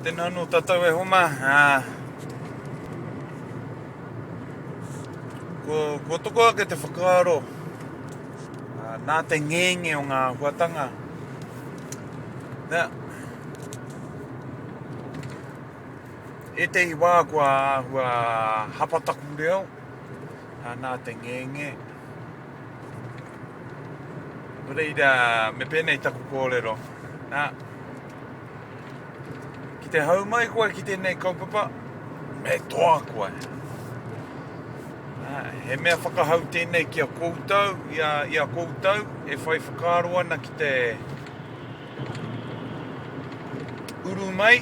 Tēnā anō tātou e homa. Uh, ko, ko toko ake te whakaaro uh, nā te ngenge o ngā huatanga. Nā, e te i wā kua hua hapataku reo uh, nā te ngenge. Reira, me pēnei taku kōrero. Nā, ki te hau mai koe ki tēnei kaupapa, me toa koe. Nā, he mea whakahau tēnei ki a koutou, i a, i a koutou, e whai whakaaro ana ki te, Uru mai,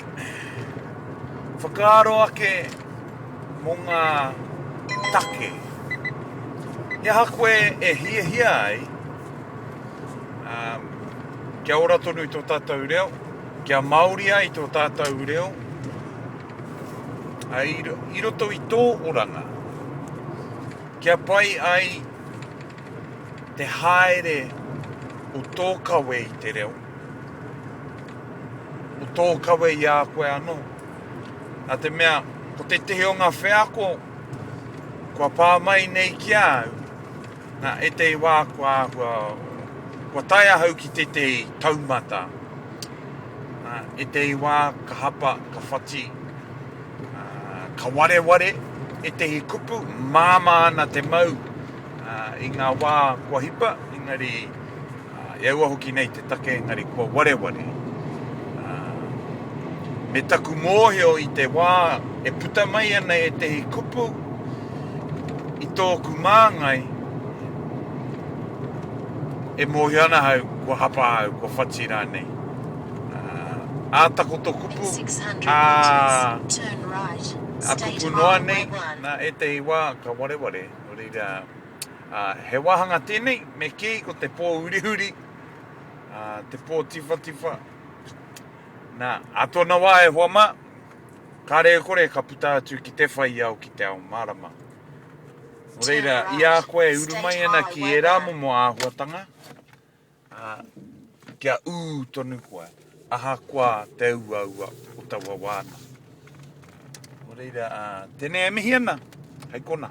whakaaro ake mō ngā take. He aha koe e hiahia ai kia ora tonu i tō tātou reo, kia Māori ai tō tātou reo, i roto i tō oranga, kia pai ai Te haere o tō kawe i te reo, o tō kawe i a koe anō. Nā te mea, ko tētehi o ngā wheako kua pā mai nei ki a au, nā ētehi wā kua āhua, kua tae ahau ki tētehi taumata, nā ētehi wā ka hapa, ka whati, ka wareware ētehi kupu, māmā ana te mau, I ngā wā kua hipa, engari i aua hoki nei te take engari kua wareware. Me taku mōhio i te wā e puta mai ana ētehi kupu i tōku māngai, e mōhio ana hau kua hapa au, kua whati rānei. Ā takoto kupu, ā, ā kupu noa nei, nā ētehi wā ka wareware. Nō reira, ā, he wāhanga tēnei, me kī, ko te pō hurihuri, ā, te pō tiwhatiwha. Nā, ā tōna wā e hoa mā, kāre e kore ka puta atu ki te whai ao, ki te ao mārama. Nō reira, i a koe e uru mai ana ki ērā momo āhuatanga, Ā, kia ū tonu koe, ahakoa te uaua o taua wānanga. Nō reira, ā, tēnei e mihi ana, hei konā.